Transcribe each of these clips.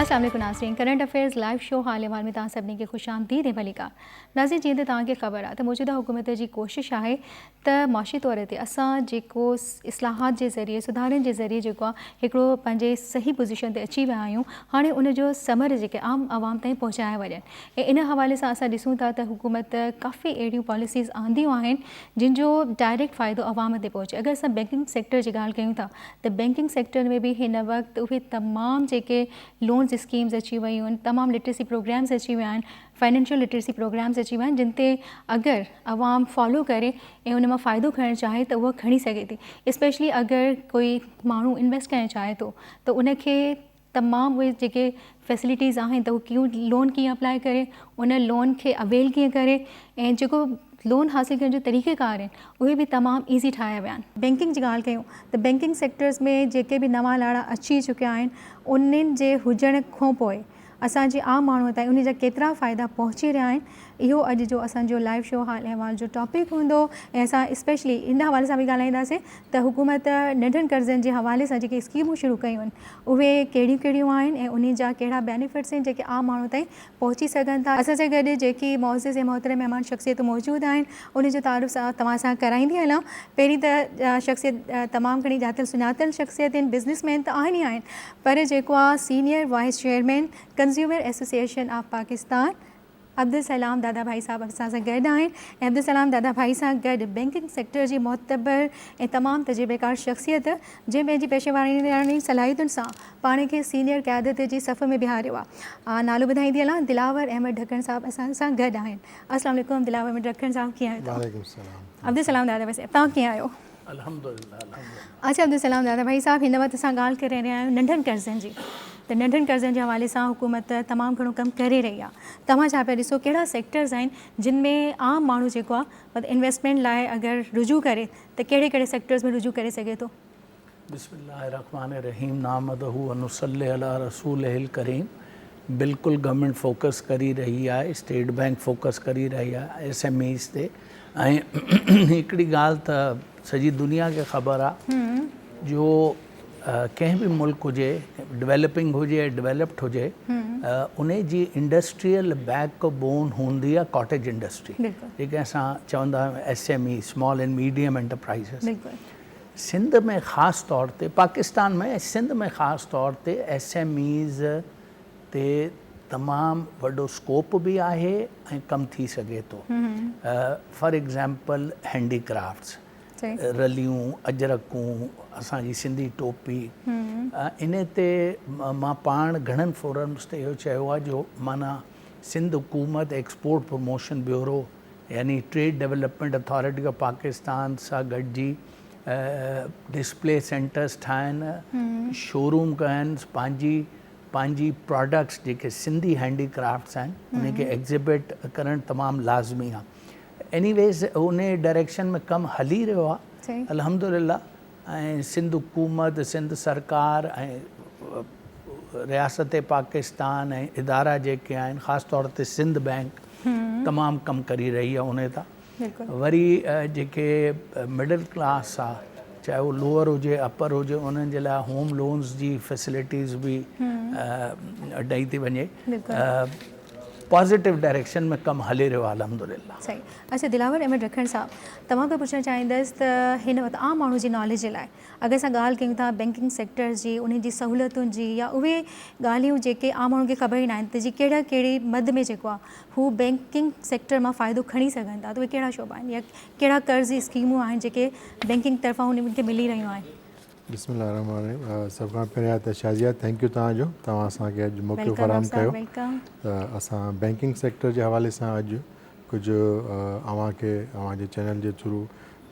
السلام عليڪم ناظرين ڪرنٽ افيئرز لائيو شو حال احوال ۾ توهان سڀني کي خوش آمديد ۽ ڀليڪار ناظرين جيئن ته توهان کي خبر آهي ته موجوده حڪومت جي ڪوشش آهي ته معاشي طور تي اسان جيڪو اصلاحات جي ذريعي سڌارن جي ذريعي جيڪو آهي هڪڙو پنهنجي صحيح پوزيشن تي اچي ويا آهيون هاڻي ان جو ثمر جيڪي عام عوام تائين پهچايا وڃن ۽ ان حوالي سان اسان ڏسون ٿا ته حڪومت ڪافي اهڙيون پاليسيز آنديون آهن جن جو ڊائريڪٽ فائدو عوام تي پهچي اگر اسان بينڪنگ سيڪٽر جي ڳالهه ڪيون ٿا ته بينڪنگ سيڪٽر ۾ به هن وقت اهي تمام جيڪي لونز اسڪيمز اچي ويون آهن تمام لٽريسي پروگرامز اچي ويا آهن فائنينشل لٽريسي پروگرامز اچي ويا آهن جن تي اگر عوام فالو ڪري ۽ ان مان فائدو کڻڻ چاهي ته اهو کڻي سگهي ٿي اسپيشلي اگر ڪوئي ماڻهو انويسٽ ڪرڻ چاهي ٿو ته ان کي تمام اهي جيڪي فيسلٽيز آهن ته هو ڪيون لون ڪيئن اپلائي ڪري ان لون کي اويل ڪيئن ڪري ۽ جيڪو لون حاصل ڪرڻ جو طريقه ڪار آهن اهي به تمام ايزي ٺاهيا ويا آهن. بينڪنگ جي ڳالهه ڪيون ته بينڪنگ سيڪٽرز ۾ جيڪي به نوان لاڙا اچي چڪيا آهن انهن جي هجڻ کانپوء اسان جي عام ماڻهو تائين انهن جا ڪيترا فائدا پهچي رهيا آهن اهو اڄ جو اسان جو لائيو شو حال احوال جو ٽاپڪ هوندو ۽ اسان اسپيشلي ان حوالي سان به ڳالهائينداسين ته حڪومت ننڍن قرضن جي حوالي سان جيڪي اسڪيمون شروع ڪيون آهن اهي ڪهڙيون ڪهڙيون آهن ۽ انهن جا ڪهڙا بينيفٽس آهن جيڪي عام ماڻهو تائين پهچي سگهن ٿا. اسان سان گڏ جيڪي معزز ۽ محترم مهمان شخصيتون موجود آهن انهن جو تعارف توهان سان ڪرائيندي هلان پهرين ته شخصيت تمام گهڻي ڄاتل سڃاتل شخصيت آهن بزنس مين ته آهن ئي آهن پر جيڪو آهي senior vice chairman consumer association of Pakistan Abdul Salam Dadabhai صاحب اسان سان گڏ آهن ۽ عبدالسلام داداڀائي سان گڏ بئنڪنگ سيڪٽر جي معتبر ۽ تمام تجربيڪار شخصيت جنهن پنهنجي پيشيواراڻي صلاحيتن سان پاڻ کي سينئر قيادت جي صف ۾ بيهاريو آ نالو ٻڌائيندي هلان دلاور احمد ڊھڪڻ صاحب اسان سان گڏ آهن السلام عليڪم دلاور احمد ڊھڪڻ صاحب ڪيئن آهيو توهان عبدالسلام داداڀائي صاحب توهان ڪيئن آهيو. الحمدلله الحمدلله. اچ عبدالسلام دادا ڀائي صاحب هن وقت اسان ڳالهه ڪري رهيا آهيون ننڍن قرضن جي ته ننڍن قرضن جي حوالي سان حڪومت تمام گهڻو ڪم ڪري رهي آهي توهان ڇا پيا ڏسو ڪهڙا سيڪٽرز آهن جن ۾ عام ماڻهو جيڪو آهي مطلب انويسٽمينٽ لاء اگر رجوع ڪري ته ڪهڙي ڪهڙي سيڪٽرز ۾ رجوع ڪري سگهي ٿو. بسم الله الرحمٰن الرحيم نحمده ونصلي علي رسوله الڪريم بلڪل گورنمينٽ فوڪس ڪري رهي آهي اسٽيٽ بينڪ فوڪس ڪري رهي آهي ايس ايم ايز تي ۽ هڪڙي ڳالهه ته سڄي دنيا کي خبر آ جو ڪنهن به ملڪ هجي ڊويلپنگ هجي يا ڊويلپڊ هجي ان جي انڊسٽريل بيڪ بون هوندي آ ڪاٽيج انڊسٽري جيڪي اسان چوندا آهيون S M E small and medium enterprises Sindh ۾ خاص طور تي پاڪستان ۾ سنڌ ۾ خاص طور تي ايس ايم ايز تي تمام وڏو اسڪوپ به آهي ۽ ڪم ٿي سگهي ٿو فار ايگزامپل هينڊي ڪرافٽس رليون اجرڪون اسان جي سنڌي ٽوپي ان تي مان پاڻ گهڻن فورمس تي اهو چيو آهي جو مانا سنڌ حڪومت ايڪسپورٽ پروموشن بيورو يعني trade development authority of Pakistan سان گڏجي ڊسپلي سينٽرس ٺاهن، شوروم ڪن، پنهنجي پنهنجي پراڊڪٽس جيڪي سنڌي هينڊي ڪرافٽس آهن انهن کي ايگزيبٽ ڪرڻ تمام لازمي آهي ايني ويز انهي ڊائريڪشن ۾ ڪم هلي رهيو آهي الحمدلله ۽ سنڌ حڪومت سنڌ سرڪار ۽ رياست پاڪستان ۽ ادارا جيڪي آهن خاص طور تي سنڌ بئنڪ تمام ڪم ڪري رهي آهي انهي تان وري جيڪي مڊل ڪلاس آ چاهي هو لوئر هجي اپر هجي انهن جي لاء هوم لونز جي فيسلٽيز به ڏئي ٿي وڃي پازيٽو ڊائريڪشن ۾ ڪم هلي رهيو آهي الحمدلله صحيح اچا دلاور احمد رکڻ صاحب توهان کي پڇڻ چاهيندس ته هن وقت عام ماڻهو جي ناليج جي لاء اگر اسان ڳالهه ڪيون ٿا بينڪنگ سيڪٽر جي انهن جي سهولتن جي يا اهي ڳالهيون جيڪي عام ماڻهن کي خبر ئي ناهن ته جي ڪهڙا ڪهڙي مد ۾ جيڪو آ هو بئنڪنگ سيڪٽر مان فائدو کڻي سگهن ٿا ته اهي ڪهڙا شعبا آهن يا ڪهڙا قرض جي اسڪيمون آهن جيڪي بئنڪنگ طرفان انهن کي ملي رهيون آهن. بسم الله الرحمٰن الرحيم سڀ کان پهريان ته شازيا ٿينڪ يو توهان جو توهان اسان کي اڄ موقعو فراهم ڪيو ته اسان بئنڪنگ سيڪٽر جي حوالي سان اڄ ڪجهه اوهان کي اوهان جي چينل جي ٿرو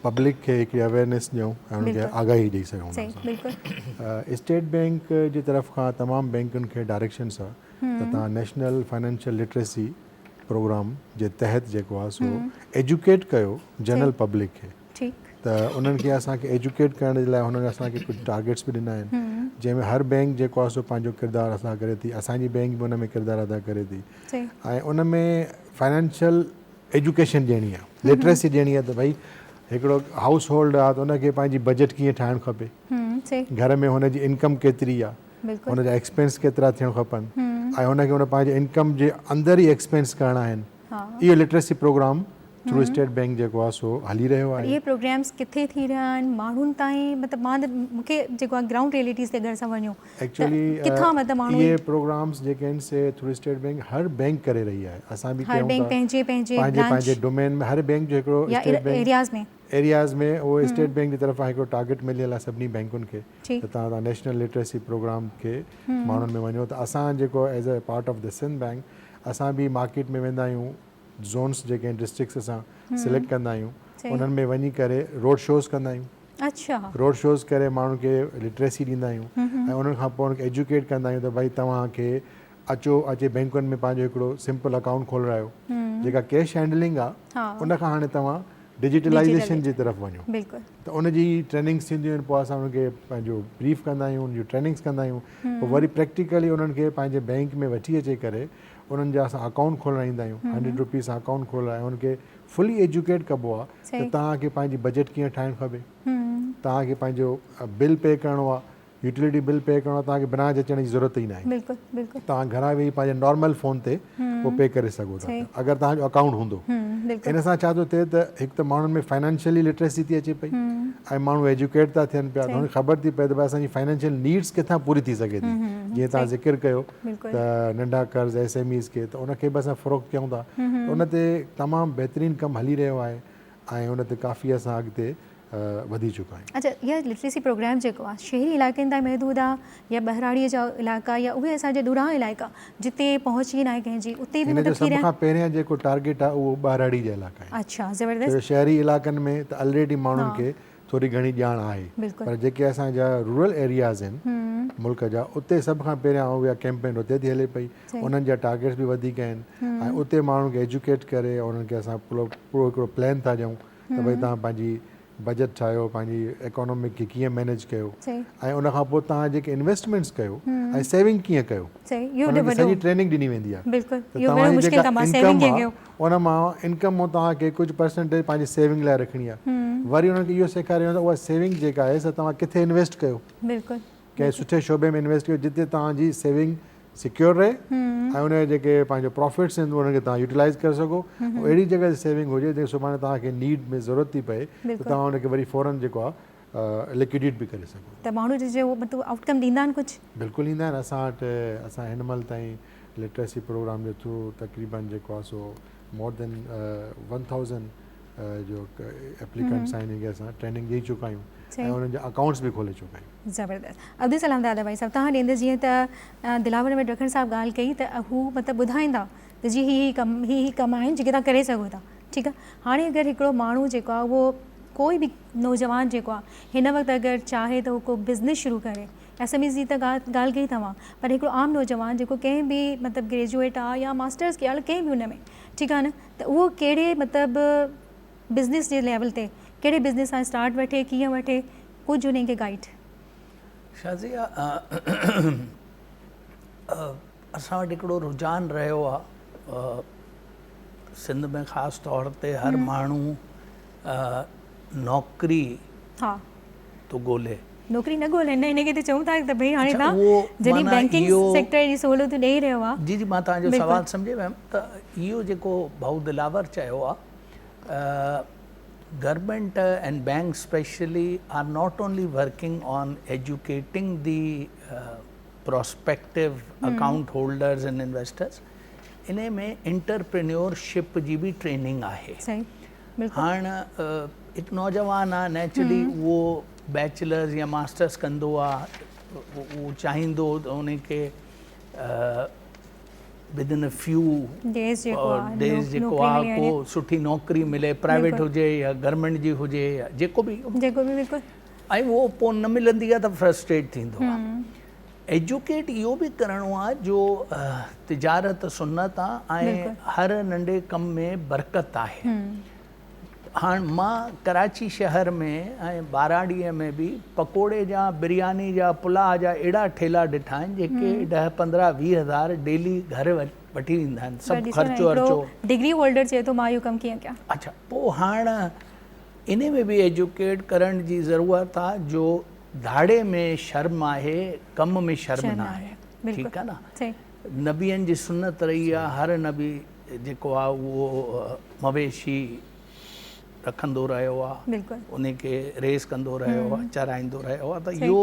پبلڪ کي هڪڙي اويئرنيس ڏيون ۽ انهن کي آگاهي ڏئي سگهون اسٽيٽ بئنڪ جي طرف کان تمام بئنڪن کي ڊائريڪشنس آهي ته توهان نيشنل فنانشل لٽريسي پروگرام جي تحت جيڪو آهي سو ايجوڪيٽ ڪيو جنرل پبلڪ کي ته انهن کي اسان کي ايجوڪيٽ ڪرڻ جي لاء هنن اسان کي ڪجهه ٽارگيٽس به ڏنا آهن جنهن ۾ هر بينڪ جيڪو آهي سو پنهنجو ڪردار ادا ڪري ٿي اسانجي بينڪ به ان ۾ ڪردار ادا ڪري ٿي ۽ ان ۾ فنانشل ايجوڪيشن ڏيڻي آهي لٽريسي ڏيڻي آهي ته ڀئي هڪڙو هائوس هولڊ آهي ته ان کي پنهنجي بجيٽ ڪيئن ٺاهڻ کپي گهر ۾ هن جي انڪم ڪيتري آهي ان جا ايڪسپينس ڪيترا ٿيڻ کپن ۽ ان کي ان پنهنجي انڪم جي اندر ئي ايڪسپينس ڪرڻا آهن اهو literacy programme through state bank جيڪو آهي سو هلي رهيو آهي. اهي پروگرامز ڪٿي ٿي رهيا آهن ماڻهن تائين مطلب مان ته مون کي جيڪو آهي گرائونڊ ريئلٽيز تي اگر اسان وڃون ته ڪٿان مطلب ماڻهو اهي پروگرامز جيڪي آهن سي ٿرو اسٽيٽ بينڪ هر بينڪ ڪري رهي آهي اسان به ڪيون ٿا پنهنجي پنهنجي ڊومين ۾ هر بينڪ جو هڪڙو اسٽيٽ بينڪ ايرياز ۾ ايرياز ۾ اهو اسٽيٽ بينڪ جي طرفان هڪڙو ٽارگيٽ مليل آهي سڀني بينڪن کي ته تهان تهان نيشنل لٽريسي پروگرام کي ماڻهن ۾ وڃو ته اسان جيڪو as a part of the Sindh bank اسان به مارڪيٽ ۾ ويندا آهيون زونس جيڪي آهن ڊسٽرڪس اسان سليڪٽ ڪندا آهيون انهن ۾ وڃي ڪري روڊ شوز ڪندا آهيون اڇا روڊ شوز ڪري ماڻهن کي لٽريسي ڏيندا آهيون ۽ انهن کان پوء ايجوڪيٽ ڪندا آهيون ته ڀائي توهان کي اچو اچي بينڪن ۾ پنهنجو هڪڙو سمپل اڪائونٽ کولرايو جيڪا ڪيش هينڊلنگ آهي ان کان هاڻي توهان ڊجيٽلائيزيشن جي طرف وڃو ته ان جي ٽريننگس ٿينديون آهن پوء اسان انهن کي پنهنجو بريف ڪندا آهيون انهن جون ٽريننگس ڪندا آهيون پوء وري پريڪٽيڪلي انهن کي پنهنجي بئنڪ ۾ وٺي اچي ڪري انهن جا اسان اڪائونٽ کولرائيندا آهيون هنڊريڊ روپيز سان اڪائونٽ کولرائي انهن کي فلي ايجوڪيٽ ڪبو آهي ته توهان کي پنهنجي بجيٽ ڪيئن ٺاهڻ کپي توهان کي پنهنجو بل پي ڪرڻو آهي يوٽيلٽي بل پي ڪرڻو آهي توهان کي برانچ اچڻ جي ضرورت ئي ناهي توهان گهران ويهي پنهنجي نارمل فون تي اهو پي ڪري سگهو ٿا پيا اگر توهان جو اڪائونٽ هوندو ان سان ڇا ٿو ٿئي ته هڪ ته ماڻهن ۾ فائنانشلي لٽريسي ٿي اچي پئي ۽ ماڻهو ايجوڪيٽ ٿا ٿين پيا انهن کي خبر ٿي پئي ته اسان جي فائنانشل نيڊس ڪٿان پوري ٿي سگهي ٿي جيئن توهان ذڪر ڪيو ته ننڍا قرض ايس ايم ايز کي ته ان کي به اسان فروغ ڪيون ٿا ان تي تمام بهترين ڪم هلي رهيو آهي ۽ ان تي ڪافي اسان اڳتي وڌي چڪا آهن. اچا اها لٽريسي پروگرام جيڪو آهي شهري علائقن تائين محدود آهي يا ٻهراڙيء جا علائقا يا اهي اسان جا ڏورانهن علائقا جتي پهچ ئي ناهي ڪنهن جي اتي به مطلب ٿي رهيا آهن. هن جو سڀ کان پهريان جيڪو ٽارگيٽ آهي اهو ٻهراڙي جا علائقا آهن. اچا زبردست. ڇو شهري علائقن ۾ ته الريڊي ماڻهن کي ٿوري گهڻي ڄاڻ آهي پر جيڪي اسان جا رورل ايرياز آهن ملڪ جا اتي سڀ کان پهريان اها ڪيمپين اتي ٿي هلي پئي انهن جا ٽارگيٽس به وڌيڪ آهن ۽ اتي ماڻهن کي ايجوڪيٽ ڪري انهن کي اسان پورو هڪڙو پلان ٿا ڏيون ته ڀئي توهان پنهنجي بجيٽ ٺاهيو پنهنجي ايڪانومڪ کي ڪيئن مينيج ڪيو ۽ ان کان پوء توهان جيڪي انويسٽمينٽس ڪيو ۽ سيونگ ڪيئن ڪيو انهن جي سڄي ٽريننگ ڏني ويندي آهي ته توهان جي جيڪا انڪم آهي ان مان انڪم مان توهان کي ڪجهه پرسنٽيج پنهنجي سيونگ لاء رکڻي آهي وري انهن کي اهو سيکاريو ويندو اها سيونگ جيڪا آهي سا توهان ڪٿي انويسٽ ڪيو ڪنهن سٺي شعبي ۾ انويسٽ ڪيو جتي توهان جي سيونگ سيڪيور رهي ۽ ان جا جيڪي پنهنجا پروفٽس آهن انهن کي توهان يوٽيلائز ڪري سگهو اهڙي جڳهه تي سيونگ هجي جيڪي سڀاڻي توهان کي نيڊ ۾ ضرورت ٿي پئي ته توهان ان کي وري فورن جيڪو آهي لڪوڊيٽ به ڪري سگهو ته ماڻهو جي جي هو مطلب آئوٽ ڪم ڏيندا آهن ڪجهه بلڪل ڏيندا آهن اسان وٽ اسان هن مهل تائين لٽريسي پروگرام جو ٿرو تقريبن جيڪو آ سو مور ڌين ون ٿائوزنڊ جو ايپليڪنٽ سان هنن کي اسان ٽريننگ ڏئي چڪا آهيون ۽ انهن جا اڪائونٽس به کولي چڪا آهيون. زبردست ابدي سلام دادا ڀائي صاحب تهان ڏيندس جيئن ته دلاور احمد رکڻ صاحب ڳالهه ڪئي ته هو مطلب ٻڌائيندا ته جي هي هي ڪم هي هي ڪم آهن جيڪي تهان ڪري سگهو ٿا ٺيڪ آ هاڻي اگر هڪڙو ماڻهو جيڪو آ اهو ڪوئي به نوجوان جيڪو آ هن وقت اگر چاهي ته هو ڪو بزنس شروع ڪري ايس ايم ايز جي ته ڳالهه ڪئي توهان پر هڪڙو عام نوجوان جيڪو ڪنهن به مطلب گريجوئيٽ آ يا ماسٽرس ڪيو آ ڪنهن به ان ۾ ٺيڪ آ نه ته اهو ڪهڙي مطلب بزنس جي ليول تي ڪهڙي بزنس سان اسٽارٽ وٺي ڪيئن وٺي ڪجهه انهن کي گائيڊ شازيا اسان وٽ هڪڙو رجحان رهيو آ سنڌ ۾ خاص طور تي هر ماڻهو نوڪري ٿو ڳولي نوڪري نه ڳولي نه انڪري ته چئون ٿا ته ڀئي هاڻي تان جڏهن بينڪنگ سيڪٽر جي سهولتون ڏئي رهيو آ جي جي مان تنهنجو سوال سمجهي ويم ته اهو جيڪو ڀائو دلاور چيو آ government and bank specially are not only working on educating the prospective account holders and investors انهي ۾ انٽرپرينيور شپ جي به ٽريننگ آهي هاڻ هڪ نوجوان آهي نيچرلي اهو بيچلرز يا ماسٽرز ڪندو آهي اهو چاهيندو ته ان کي بدن ا فيو ڊيز جيڪو آهي ڪو سٺي نوڪري ملي پرائيويٽ هجي يا گورمينٽ جي هجي يا جيڪو به ۽ اهو پوء نه ملندي آهي ته فرسٽريٽ ٿيندو آهي ايجوڪيٽ اهو به ڪرڻو آهي جو تجارت سنت آهي ۽ هر ننڍي ڪم ۾ برڪت آهي مان ڪراچي شهر ۾ ۽ ٻاراڙي ۾ به پڪوڙي جا برياني جا پلاء جا اهڙا ٺيلا ڏٺا آهن جيڪي ڏهه پندرهن ويهه هزار ڊيلي گهر وٺي ويندا آهن سڀ خرچو ورچو ڊگري هولڊر چئي ٿو مان اهو ڪم ڪيئن ڪيان اڇا پوء هاڻ انهي ۾ به ايجوڪيٽ ڪرڻ جي ضرورت آ جو ڌاڙي ۾ شرم آهي ڪم ۾ شرم نه آهي ٺيڪ آ نه نبين جي سنت رهي آ هر نبي جيڪو آ اهو مويشي رکندو رهيو آ انهي کي ريس ڪندو رهيو آ چرائيندو رهيو آ ته اهو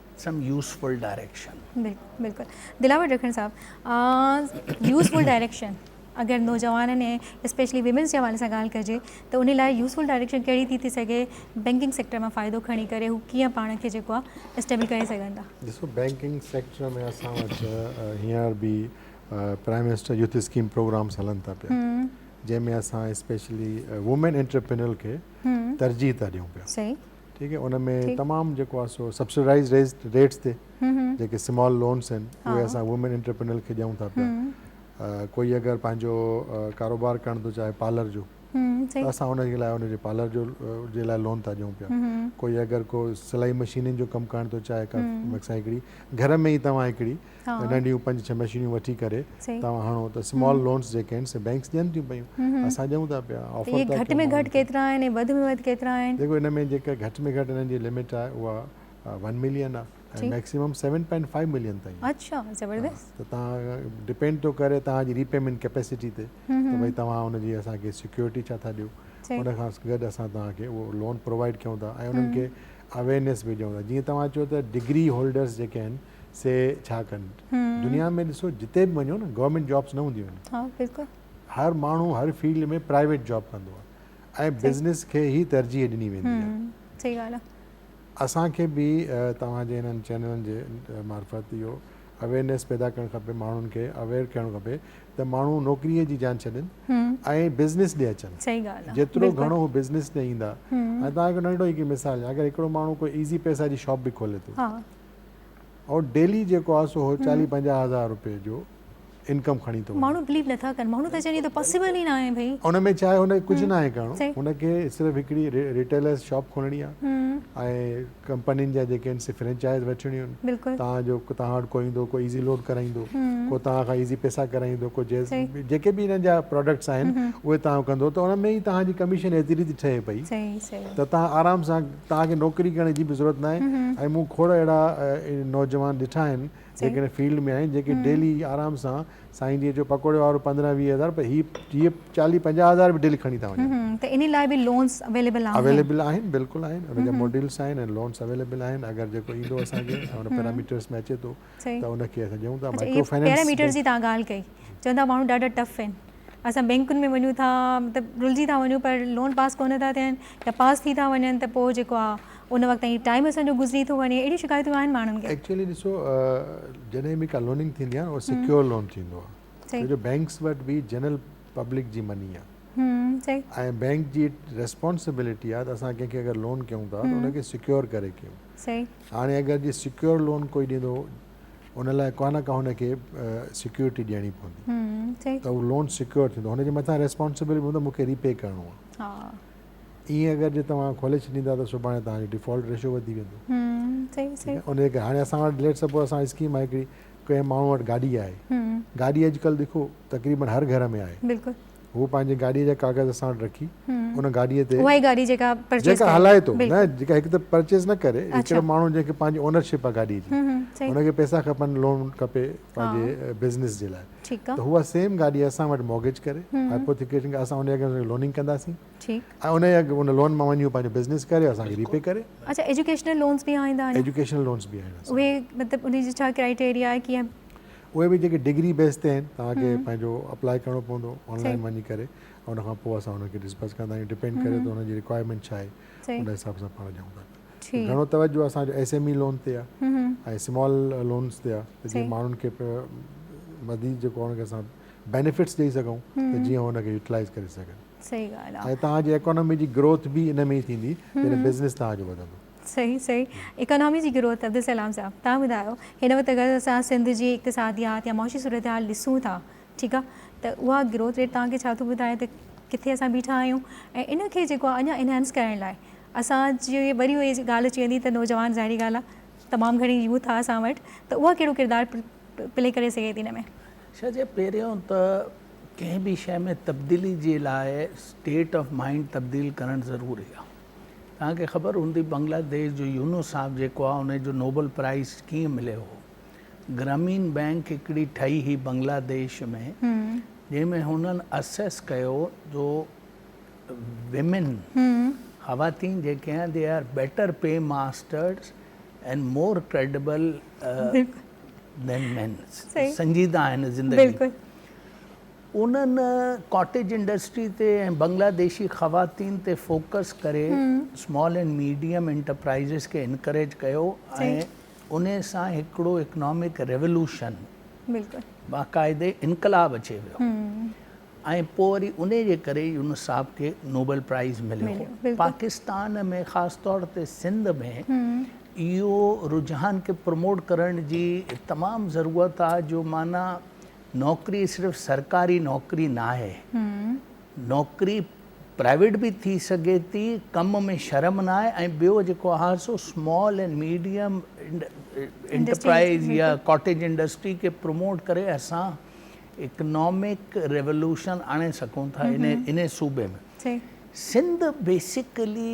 سم يوزفل ڊائريڪشن. بلڪل بلڪل دلاور رکڻ صاحب يوزفل ڊائريڪشن اگر نوجوانن ۽ اسپيشلي ويمنس جي حوالي سان ڳالهه ڪجي ته ان لاء يوزفل ڊائريڪشن ڪهڙي ٿي ٿي سگهي بينڪنگ سيڪٽر مان فائدو کڻي ڪري هو ڪيئن پاڻ کي جيڪو آهي اسٽيبل ڪري سگهن ٿا. ڏسو بينڪنگ سيڪٽر ۾ اسان وٽ هينئر به prime minister youth scheme programs هلن ٿا پيا جنهن ۾ اسان اسپيشلي وومين انٽرپرينيور کي ترجيح ٿا ڏيون پيا. صحيح. ٺيڪ آهي ان ۾ تمام جيڪو آهي سو سبسڊائيز ريٽس تي جيڪي سمال لونس آهن اهي اسان وومين انٽرپرينل کي ڏيون ٿا پيا ڪوئي اگر پنهنجو ڪاروبار ڪرڻ ٿو چاهي پارلر جو ته اسان ان جي لاء ان جي پارلر جو جي لاء لون ٿا ڏيون پيا ڪوئي اگر ڪو سلائي مشينن جو ڪم ڪرڻ ٿو چاهي ڪا مڪسان هڪڙي گهر ۾ ئي توهان هڪڙي ننڍيون پنج ڇهه مشينيون وٺي ڪري توهان هڻو ته سمال لونس جيڪي آهن سي بئنڪس ڏين ٿيون پيون اسان ڏيون ٿا پيا آفر ٿا ڪن اهي گهٽ ۾ گهٽ ڪيترا آهن ۽ وڌ ۾ وڌ ڪيترا آهن جيڪو ان ۾ جيڪا گهٽ ۾ گهٽ انهن جي لمٽ آهي اها ون ملين آهي ۽ maximum seven point five million تائين آهي اڇا زبردست ته توهان ڊپينڊ ٿو ڪري توهان جي ري پيمنٽ ڪيپيسٽي تي ته ڀئي توهان ان جي اسان کي سيڪيورٽي ڇا ٿا ڏيو ان کان گڏ اسان توهان کي اهو لون پرووائيڊ ڪيون ٿا ۽ انهن کي اويئرنيس به ڏيون ٿا جيئن توهان چيو ته ڊگري هولڊرس جيڪي آهن سي ڇا ڪن دنيا ۾ ڏسو جتي به وڃو نه گورمينٽ جابس نه هونديون آهن هر ماڻهو هر فيلڊ ۾ پرائيويٽ جاب ڪندو آهي ۽ بزنس کي هي ترجيح ڏني ويندي آهي صحيح ڳالهه آهي اسان کي به توهان جي هنن چينلن جي معرفت اهو اويئرنيس پيدا ڪرڻ کپي ماڻهن کي اويئر ڪرڻ کپي ته ماڻهو نوڪري جي جان ڇڏين ۽ بزنس ڏي اچن صحيح ڳالهه آهي جيترو گهڻو هو بزنس ڏي ايندا ۽ توهان کي ننڍو هڪ مثال اگر هڪڙو ماڻهو ڪو ايزي پيسا جي شاپ به کولي ٿو ۽ ڊيلي جيڪو آ سو چاليهه پنجاهه هزار روپيه جو انڪم کڻي ٿو وڃي. ماڻهو بليو نٿا ڪن ماڻهو ٿا چون هي ته پاسيبل ئي ناهي ڀئي. ان ۾ ڇاهي هن کي ڪجهه ناهي ڪرڻو هن کي صرف هڪڙي ريٽيلرز شاپ کولڻي آ ۽ ڪمپنين جا جيڪي آهن سي فرينچائز وٺڻيون آهن تان جو تان وٽ ڪو ايندو ڪو ايزي لوڊ ڪرائيندو ڪو تان کان ايزي پيسا ڪرائيندو ڪو جيز جيڪي به هنن جا پراڊڪٽس آهن اهي تان کان ڪندو ته ان ۾ ئي تان جي ڪميشن ايتري ٿي ٺهي پئي ته تان آرام سان توهان کي نوڪري ڪرڻ جي به ضرورت ناهي ۽ مون کوڙ اهڙا نوجوان ڏٺا آهن جيڪي ان فيلڊ ۾ آهن جيڪي ڊيلي آرام سان سائين جي جو پڪوڙي وارو پندرهن ويهه هزار پر هي هي چاليهه پنجاهه هزار به ڊيلي کڻي ٿا وڃن ته انهي لاء به لونز اويليبل آهن اويليبل آهن بلڪل آهن ان جا ماڊيلس آهن ۽ لونز اويليبل آهن اگر جيڪو ايندو اسان کي ان پيراميٽرس ۾ اچي ٿو ته ان کي اسان چئون ٿا مائڪرو فنانس اهي پيراميٽرز جي تان ڳالهه ڪئي چون ٿا ماڻهو ڏاڍا ٽف آهن اسان بينڪن ۾ وڃون ٿا مطلب رلجي ٿا وڃون پر لون پاس ڪونه ٿا ٿين يا پاس ٿي ٿا وڃن ته پوء جيڪو آهي ان وقت تائين ٽائيم اسان جو گذري ٿو وڃي اهڙيون شڪايتون آهن ماڻهن کي ايڪچولي ڏسو جڏهن به ڪا لوننگ ٿيندي آهي اهو سيڪيور لون ٿيندو آهي جو بينڪس وٽ به جنرل پبلڪ جي مني آهي ۽ بينڪ جي ريسپانسبلٽي آهي ته اسان ڪنهن کي اگر لون ڪيون ٿا ته ان کي سيڪيور ڪري ڪيون هاڻي اگر جي سيڪيور لون ڪوئي ڏيندو ان لاء ڪانه ڪا هن کي سيڪيورٽي ڏيڻي پوندي ته اهو لون سيڪيور ٿيندو هن جي مٿان ريسپانسبل به هوندو مون کي ريپي ڪرڻو آهي ائين اگر جي توهان کولي ڇڏيندا ته سڀاڻي توهان جو ڊيفالٽ ريشو وڌي ويندو ان جي ڪري هاڻي اسان وٽ ليٽ سپوز اسان اسڪيم آهي هڪڙي ڪنهن ماڻهو وٽ گاڏي آهي گاڏي اڄڪلهه ڏکو تقريبن هر گهر ۾ آهي هو پنهنجي گاڏيء جا ڪاغذ اسان وٽ رکي ان گاڏيء تي اها ئي گاڏي جيڪا پرچيز جيڪا هلائي ٿو نه جيڪا هڪ ته پرچيز نه ڪري هڪڙو ماڻهو جنهن کي پنهنجي اونرشپ آهي گاڏيء جي ان کي پئسا کپن لون کپي پنهنجي بزنس جي لاء ته هو سيم گاڏي اسان وٽ موگيج ڪري هائپوٿيڪيشن کي اسان ان جي اڳيان لوننگ ڪنداسين ۽ ان جي ان لون مان وڃي هو پنهنجو بزنس ڪري اسان کي ريپي ڪري اڇا ايجوڪيشنل لونز به آهن اهي ايجوڪيشنل لونز به آهن مطلب ان جي ڇا ڪرائيٽيريا آهي ڪيئن اهي به جيڪي ڊگري بيس تي آهن توهان کي پنهنجو اپلاء ڪرڻو پوندو آنلائن وڃي ڪري ۽ ان کان پوء اسان انهن کي ڊسبرس ڪندا آهيون ڊپينڊ ڪري ٿو ان جي رڪوائرمينٽ ڇا آهي ان حساب سان پاڻ ڏيون ٿا پيا گهڻو توجهه اسانجو ايس ايم اي لون تي آهي ۽ سمال لونس تي آهي ته جيئن ماڻهن کي مزيد جيڪو هن کي اسان بينيفٽس ڏئي سگهون ته جيئن هن کي يوٽلائز ڪري سگهن ۽ تهانجي ايڪانومي جي گروٿ به ان ۾ ئي ٿيندي جڏهن بزنس تهانجو وڌندو صحيح صحيح اڪانامي جي گروٿ عبدالسلام صاحب تهان ٻڌايو هن وقت اگر اسان سنڌ جي اقتصاديات يا معاشي صورتحال ڏسون ٿا ٺيڪ آ ته اها گروٿ ريٽ تهان کي ڇا ٿو ٻڌائي ته ڪٿي اسان بيٺا آهيون ۽ ان کي جيڪو اڃا انهانس ڪرڻ لاء اسان جي وري اهي ڳالهه اچي ويندي ته نوجوان ظاهري ڳالهه آ تمام گهڻي يوٿ آ اسان وٽ ته اها ڪهڙو ڪردار پلي ڪري سگهي ٿي ان ۾. شاهه جي پهريون ته ڪنهن به شيء ۾ تبديلي جي لاء اسٽيٽ آف مائنڊ تبديل ڪرڻ ضروري آ. توهان کي خبر هوندي بنگلا ديش جو يونس صاحب جيڪو آهي ان جو نوبل پرائز ڪيئن مليو هو گرامين بينڪ هڪڙي ٺهي هئي بنگلا ديش ۾ جنهن ۾ هنن اسيس ڪيو جو ويمن خواتين جيڪي آهن they are better pay masters and more credible than مين سنجيده آهن زندگي انهن ڪاٽيج انڊسٽري تي ۽ بنگلاديشي خواتين تي فوڪس ڪري اسمال اينڊ ميڊيم انٽرپرائيزز کي انڪريج ڪيو ۽ ان سان هڪڙو اڪنامڪ ريولوشن، باقاعدي انقلاب اچي ويو ۽ پوء وري ان جي ڪري يونس صاحب کي نوبل پرائيز مليو هو. پاڪستان ۾ خاص طور تي سنڌ ۾ اهو رجحان کي پروموٽ ڪرڻ جي تمام ضرورت آهي جو معنيٰ نوڪري صرف سرڪاري نوڪري ناهي. نوڪري پرائيويٽ به ٿي سگهي ٿي، ڪم ۾ شرم ناهي ۽ ٻيو جيڪو آهي سو سمال اينڊ ميڊيم انٽرپرائيز يا ڪاٽيج انڊسٽري کي پروموٽ ڪري اسان اڪنامڪ ريولوشن آڻي سگهون ٿا ان صوبي ۾ سنڌ بيسڪلي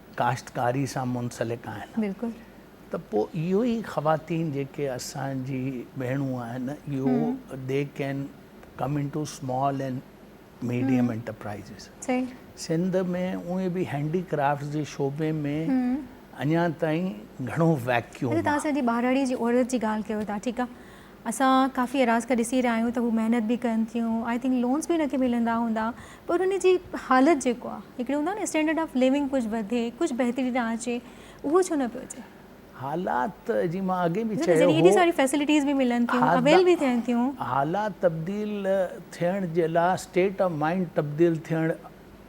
ڪاشتڪاري سان منسلڪ آهن ته پوء اهو ئي خواتين جيڪي اسان جي ڀيڻون آهن اهو they can come in to small and medium enterprises Sindh ۾ اهي به هينڊي ڪرافٽس جي شعبي ۾ اڃا تائين گهڻو ويڪيوم آهي. اسان ڪافي اراض کي ڏسي رهيا آهيون ته هو محنت به ڪن ٿيون آئي ٿنڪ لونس به هن کي ملندا هوندا پر هن جي حالت جيڪو آهي هڪڙي هوندو آهي نه اسٽينڊرڊ آف ليونگ ڪجهه وڌي ڪجهه بهتري ڏانهن اچي اهو ڇو نه پيو اچي؟ حالات جي مان اڳي به چيو هو ايڏي ساري فيسلٽيز به ملن ٿيون اويل به ٿين ٿيون. حالات تبديل ٿيڻ جي لاء اسٽيٽ آف مائنڊ تبديل ٿيڻ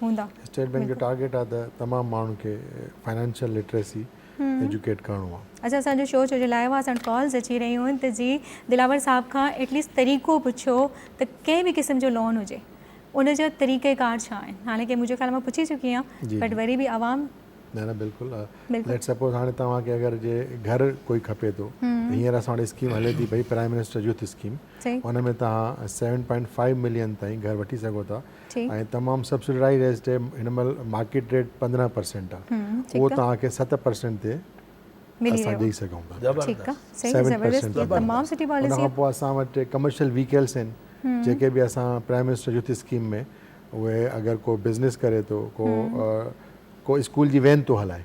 هوندا. اسٽيٽ بينڪ جو ٽارگيٽ آهي ته تمام ماڻهن کي فنانشل لٽريسي ايجوڪيٽ ڪرڻو آهي. اچا اسان جو شو ڇو جو لائيو آهي اسان وٽ ڪالز اچي رهيون آهن ته جي دلاور صاحب کان ايٽ ليسٽ طريقو پڇو ته ڪنهن به قسم جو لون هجي ان جا طريقه ڪار ڇا آهن حالانڪه منهنجو خيال مان پڇي چڪي آهيان بٽ وري به عوام نه نه بلڪل ليٽس سپوز هاڻي توهان کي اگر جي گهر ڪوئي کپي ٿو ته هينئر اسان وٽ اسڪيم هلي ٿي پئي پرائيم منسٽر يوٿ اسڪيم ان ۾ توهان سيون پوائنٽ فائيو ملين تائين گهر وٺي سگهو ٿا ۽ تمام سبسڊرائيڊ ريٽ تي هن مهل مارڪيٽ ريٽ پندرهن پرسينٽ آ اهو توهان کي ست پرسينٽ تي اسان ڏئي سگهون ٿا سيون پرسينٽ تي ان کان پوء اسان وٽ ڪمرشل ويهڪلس آهن جيڪي به اسان پرائيم منسٽر يوٿ اسڪيم ۾ اهي اگر ڪو بزنس ڪري ٿو ڪو اسڪول جي وين ٿو هلائي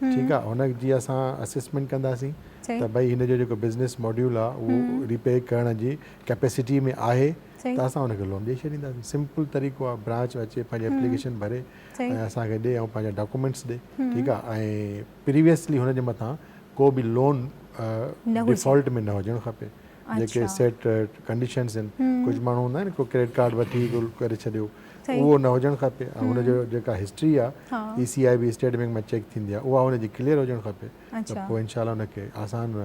ٺيڪ آ هن جي اسان اسيسمينٽ ڪنداسين ته ڀئي هن جو جيڪو بزنس ماڊيول آ اهو ريپي ڪرڻ جي ڪيپيسٽي ۾ آهي ته اسان ان کي لون ڏئي ڇڏينداسين سمپل طريقو آ برانچ اچي پنهنجي اپليڪيشن ڀري ۽ اسان کي ڏئي ۽ پنهنجا ڊاڪومينٽس ڏئي ٺيڪ آ ۽ پريويسلي هن جي مٿان ڪو به لون ڊفالٽ ۾ نه هجڻ کپي جيڪي سيٽ ڪنڊيشنز آهن ڪجهه ماڻهو هوندا آهن ڪو ڪريڊٽ ڪارڊ وٺي گل ڪري ڇڏيو اهو نه هجڻ کپي ۽ هن جو جيڪا هسٽري آهي E C I B state bank مان چيڪ ٿيندي آهي اها هن جي ڪليئر هجڻ کپي ته پوء انشاء الله هن کي آسان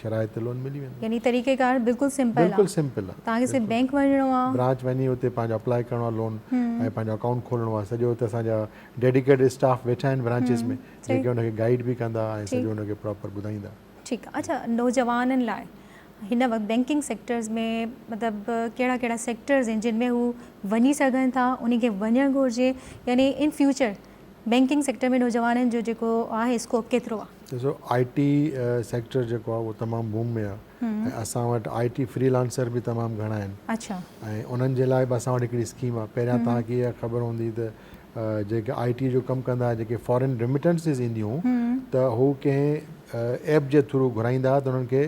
شرائط تي لون ملي ويندو يعني طريقه ڪار بلڪل سمپل آهي بلڪل سمپل آهي تان کي صرف بينڪ وڃڻو آهي برانچ وڃي اتي پنهنجو اپلائي ڪرڻو آهي لون ۽ پنهنجو اڪائونٽ کولڻو آهي سڄو اتي اسان جا ڊيڊيڪيٽ اسٽاف ويٺا آهن برانچز ۾ جيڪي هن کي گائيڊ به ڪندا ۽ سڄو هن کي پراپر ٻڌائيندا ٺيڪ آ اڇا نوجوانن لاء هن وقت بينڪنگ سيڪٽرز ۾ مطلب ڪهڙا ڪهڙا سيڪٽرز آهن جن ۾ هو وڃي سگهن ٿا انهن کي وڃڻ گهرجي يعني ان فيوچر بينڪنگ سيڪٽر ۾ نوجوانن جو جيڪو آهي اسڪوپ ڪيترو آ؟ ڏسو آء ٽي سيڪٽر جيڪو آ اهو تمام بوم ۾ آ ۽ اسان وٽ آء ٽي فري لانسر به تمام گهڻا آهن ۽ انهن جي لاء به اسان وٽ هڪڙي اسڪيم آ پهريان توهان کي اها خبر هوندي ته جيڪي آئي ٽي جو ڪم ڪندا جيڪي فارين ريمٽنسز اينديون هون ته هو ڪنهن ايپ جي ٿرو گهرائيندا ته انهن کي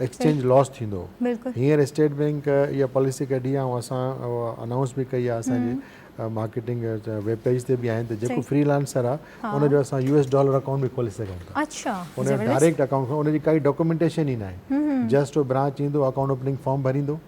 ايڪسچينج لوس ٿيندو هينئر اسٽيٽ بينڪ اها پاليسي ڪڍي آهي اسان انائونس به ڪئي آهي اسانجي مارڪيٽنگ ويب پيج تي به آهن ته جيڪو فري لانسر آهي ان جو اسان يو ايس ڊالر اڪائونٽ به کولي سگهون ٿا ان جو ڊائريڪٽ اڪائونٽ ان جي ڪائي ڊاڪومينٽيشن ئي ناهي جسٽ هو برانچ ايندو اڪائونٽ اوپننگ فارم ڀريندو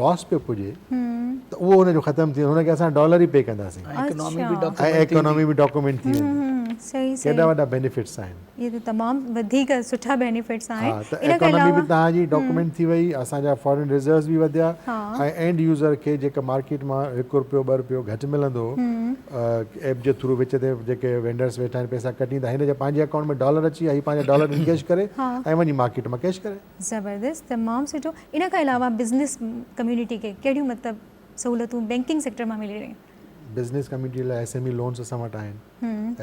لاس پيو پڄي ته اهو ان جو ختم ٿي ويندو هن کي اسان ڊالر ئي پي ڪنداسين ۽ اڪانامي به ڊاڪومينٽ ٿي ويندي ڪيڏا وڏا بينيفٽس آهن اهي ته تمام وڌيڪ سٺا بينيفٽس آهن ها ته اڪانامي به توهان جي ڊاڪومينٽ ٿي وئي اسان جا فارين ريزروز به وڌيا ۽ اينڊ يوزر کي جيڪا مارڪيٽ مان هڪ روپيو ٻه روپيو گهٽ ملندو ايپ جي ٿرو وچ تي جيڪي وينڊرس ويٺا آهن پئسا ڪٽيندا هن جي پنهنجي اڪائونٽ ۾ ڊالر اچي ويا هي پنهنجا ڊالر انگيج ڪري ۽ وڃي مارڪيٽ مان ڪيش ڪري زبردست تمام سٺو ان کان علاوه بزنس ڪميونٽي کي ڪهڙيون مطلب سهولتون بينڪنگ سيڪٽر مان ملي رهيون. بزنس ڪميونٽي لاء ايس ايم اي لونز اسان وٽ آهن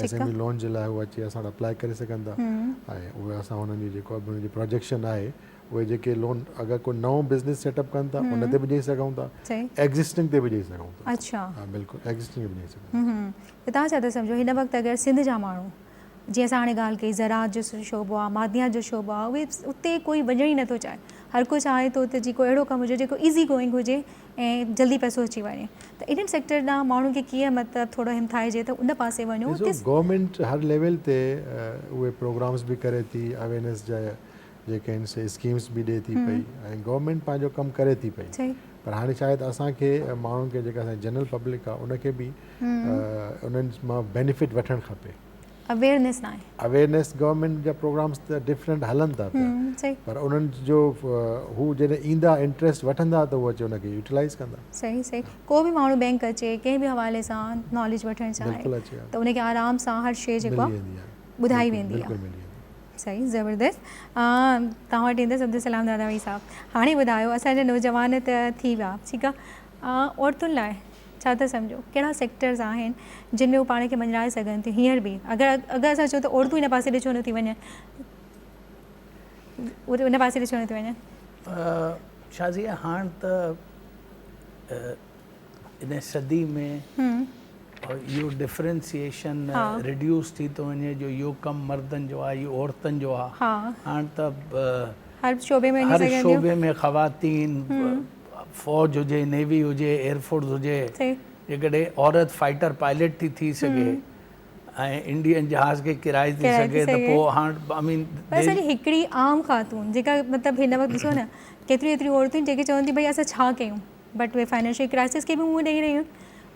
ايس ايم اي لون جي لاء هو اچي اسان وٽ اپلائي ڪري سگهن ٿا ۽ اهي اسان هنن جي جيڪو به هنن جي پروجيڪشن آهي اهي جيڪي لون اگر ڪو نئون بزنس سيٽ اپ ڪن ٿا ان تي به ڏئي سگهون ٿا ايگزسٽنگ تي به ڏئي سگهون ٿا اچا بلڪل ايگزسٽنگ تي به ڏئي سگهون ٿا ته تان ڇا ٿا سمجهو هن وقت اگر سنڌ جا ماڻهو جيئن اسان هاڻي ڳالهه ڪئي زراعت جو شعبو آ، معدنيات جو شعبو آ، اهي اتي ڪوئي وڃڻ ئي نٿو چاهي، هر ڪو چاهي ٿو ته جي ڪو اهڙو ڪم هجي جيڪو ايزي گوئنگ هجي ۽ جلدي پئسو اچي وڃي ته انهن سيڪٽر ڏانهن ماڻهن کي ڪيئن مطلب ٿورو همٿائجي ته ان پاسي وڃو. ڏسو گورنمينٽ هر ليول تي اهي پروگرامز به ڪري ٿي اويرنيس جا، جيڪي آهن سي اسڪيمس به ڏئي ٿي پئي ۽ گورنمينٽ پنهنجو ڪم ڪري ٿي پئي پر هاڻي ڇا آهي ته اسان کي ماڻهن کي جيڪا اسان جنرل پبلڪ آهي ان کي به انهن مان بينيفٽ وٺڻ کپي اويئرنيس ناهي اويئرنيس گورنمينٽ جا پروگرامس ته ڊفرنٽ هلن ٿا پيا پر انهن جو هو جڏهن ايندا انٽريسٽ وٺندا ته هو اچي ان کي يوٽيلائز ڪندا صحيح صحيح ڪو به ماڻهو بينڪ اچي ڪنهن به حوالي سان ناليج وٺڻ چاهي ته ان کي آرام سان هر شي جيڪو ٻڌائي ويندي صحيح زبردست توهان وٽ ايندس عبدالسلام داداوي صاحب هاڻي ٻڌايو اسان جا نوجوان ته ٿي ويا ٺيڪ آهي عورتن لاء ڇا ٿا سمجهو ڪهڙا سيڪٽرز آهن جن ۾ هو پاڻ کي مڃرائي سگهن ٿيون هينئر به اگر اگر اسان چون ته عورتون ان پاسي ڏي ڇو نٿي وڃن ان پاسي ڏي ڇو نٿي وڃن شازيه هاڻ ته ان صدي ۾ اهو ڊفرينسيئيشن ريڊيوس ٿي ٿو وڃي جو اهو ڪم مردن جو آهي اهو عورتن جو آهي هاڻ ته هر شعبي ۾ هر شعبي ۾ خواتين فوج هجي نيوي هجي ايئرفورس هجي جيڪڏهن عورت فائٽر پائلٽ ٿي ٿي سگهي ۽ انڊين جهاز کي ڪرائي ٿي سگهي ته پوء هاڻ آئي مين سر هڪڙي عام خاتون جيڪا مطلب هن وقت ڏسو نه ڪيتريون ايتريون عورتون جيڪي چون ٿي ڀئي اسان ڇا ڪيون بٽ اهي فائنينشل ڪرائسس کي به منهن ڏئي رهيون آهن.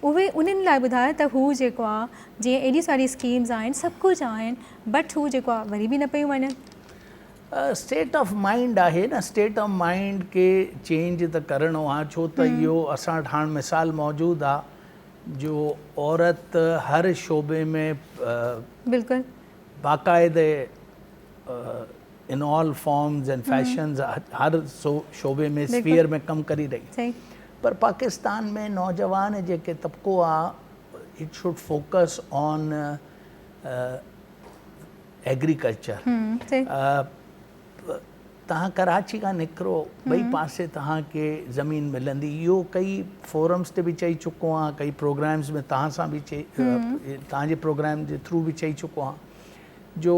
اهي انهن لاء ٻڌايو ته هو جيڪو آ جيئن ايڏيون ساريون اسڪيمز آهن سڀ ڪجهه آهن بٽ هو جيڪو آ وري به نه پيون وڃن. اسٽيٽ آف مائنڊ آهي نه اسٽيٽ آف مائنڊ کي چينج ته ڪرڻو آ ڇو ته اهو اسان وٽ هاڻ مثال موجود آ جو عورت هر شعبي ۾ بلڪل باقاعدي in all forms and fashions هر شعبي ۾ اسفيئر ۾ ڪم ڪري رهي آهي پر پاڪستان ۾ نوجوان جيڪي طبقو آ it should focus on agriculture تهان ڪراچي کان نڪرو ٻئي پاسي تهان کي زمين ملندي اهو ڪئي فورمز تي به چئي چڪو آهيان ڪئي پروگرامز ۾ تهان سان به چئي تهان جي پروگرام جي ٿرو به چئي چڪو آهيان جو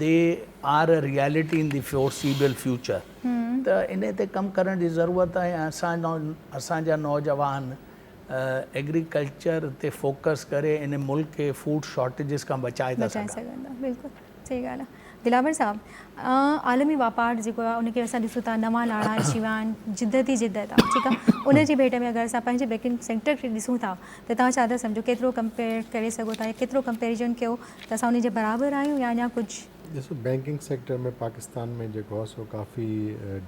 they are a reality in the foreseeable future ته انهي تي ڪم ڪرڻ جي ضرورت آهي ۽ اسان جا نوجوان ايگريڪلچر تي فوڪس ڪري انهي ملڪ کي فوڊ شارٽيجز کان بچائي ٿا سگهن بلڪل صحيح ڳالهه آهي دلاور صاحب عالمي واپار جيڪو آهي ان کي اسان ڏسون ٿا نوان ناڻا اچي ويا آهن جدت ئي جدت آهي ٺيڪ آهي ان جي ڀيٽ ۾ اگر اسان پنهنجي بيڪنگ سيڪٽر کي ڏسون ٿا ته تون ڇا ٿا سمجهو ڪيترو ڪمپيئر ڪري سگهو ٿا يا ڪيترو ڪمپيريزن ڪيو ته اسان انهي جي برابر آهيون يا اڃا ڪجهه. ڏسو بينڪنگ سيڪٽر ۾ پاڪستان ۾ جيڪو آهي سو ڪافي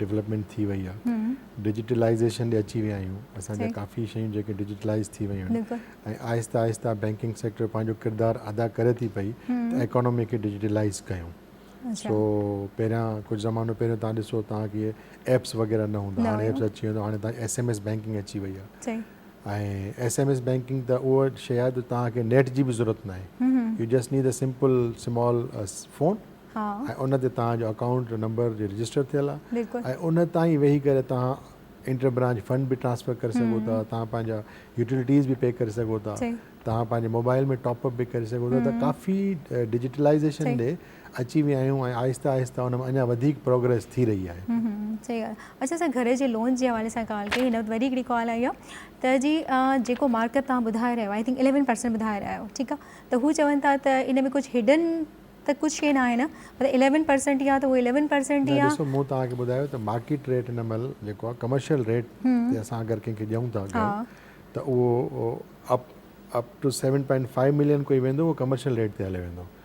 ڊولپمينٽ ٿي وئي آهي ڊجيٽلائيزيشن ڏي اچي ويا آهيون اسان جا ڪافي شيون جيڪي ڊجيٽلائيز ٿي ويون آهن ۽ آهستي آهستي بينڪنگ سيڪٽر پنهنجو ڪردار ادا ڪري ٿي پئي ته ايڪانومي کي ڊجيٽلائيز ڪيون سو پهريان ڪجهه زمانو پهريان تان ڏسو تان ڪي ايپس وغيره نه هوندا هاڻي ايپس اچي ويو هاڻي تان ايس ايم ايس بينڪنگ اچي وئي آهي ۽ ايس ايم ايس بينڪنگ ته اهو شي آهي جو توهان کي نيٽ جي به ضرورت نه آهي you just need a simple small phone ۽ ان تي توهان جو اڪائونٽ نمبر جي رجسٽر ٿيل آهي ۽ ان تان ئي ويهي ڪري توهان انٽر برانچ فنڊ به ٽرانسفر ڪري سگهو ٿا توهان پنهنجا يوٽيلٽيز به پي ڪري سگهو ٿا توهان پنهنجي موبائل ۾ ٽاپ اپ به ڪري سگهو ٿا ته ڪافي ڊجيٽلائيزيشن ڏي اچي ويا آهيون ۽ آهستي آهستي ان ۾ اڃا وڌيڪ پروگريس ٿي رهي آهي. ھمم ھمم صحيح ڳالھ آ اچا اسان گھر جي لون جي حوالي سان ڳالھ ڪيئي ھن وقت وري ھڪڙي ڪال آئي آ ته جي جيڪو مارڪيٽ تھان ٻڌائي رھيا آئي ٿنڪ اليون پرسينٽ ٻڌائي رھيا آھيو ٺيڪ آ ته ھو چون ٿا ته ان ۾ ڪجھ ھڊن ته ڪجھ شي ناھي نه مطلب اليون پرسينٽ ئي آ ته ھو اليون پرسينٽ ئي آ. ڏسو مون توھان کي ٻڌايو ته مارڪيٽ ريٽ ھن مھل جيڪو آ ڪمرشل ريٽ تي اسان اگر ڪنھن کي ڏيون ٿا گھر ته اھو up up to seven point five million ڪوئي ويندو اھو ڪمرشل ريٽ تي ھليو ويندو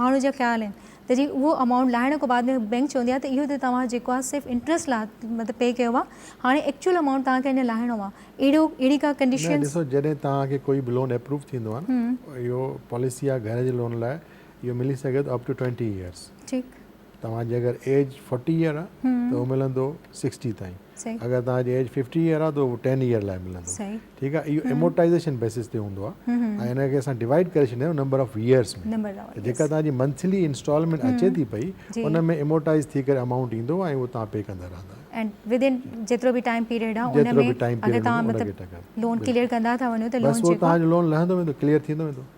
ماڻهو جا خيال آهن ته جي اهو امائونٽ لاهڻ کان بعد ۾ بئنڪ چوندي آهي ته اهو ته توهان جيڪو آهي صرف انٽريسٽ لاء مطلب پي ڪيو آهي هاڻي ايڪچوئل امائونٽ توهان کي اڃا لاهڻو آهي اهڙو اهڙي ڪا ڪنڊيشنز. نه ڏسو جڏهن توهان کي ڪوئي به لون اپروو ٿيندو آهي نه اهو پاليسي آهي گهر جي لون لاء اهو ملي سگهي ٿو اپ ٽو ٽوئنٽي ايئرس. ٺيڪ. توهان جي اگر ايج فورٽي ايئر آ ته اهو ملندو سڪسٽي تائين اگر توهان جي ايج ففٽي ايئر آ ته اهو ٽين ايئر لاء ملندو ٺيڪ آ اهو امورٽائيزيشن بيسز تي هوندو آ ۽ ان کي اسان ڊوائيڊ ڪري ڇڏيندا آهيون نمبر آف ايئرس ۾ ته جيڪا توهان جي منٿلي انسٽالمينٽ اچي ٿي پئي ان ۾ امورٽائيز ٿي ڪري امائونٽ ايندو ۽ اهو توهان پي ڪندا رهندا جيترو به ٽائيم پيريڊ آ ان ۾ اگر توهان مطلب لون ڪليئر ڪندا ٿا وڃو ته لون جيڪو بس اهو توهان جو لون لهندو ويندو ڪليئر ٿيندو ويندو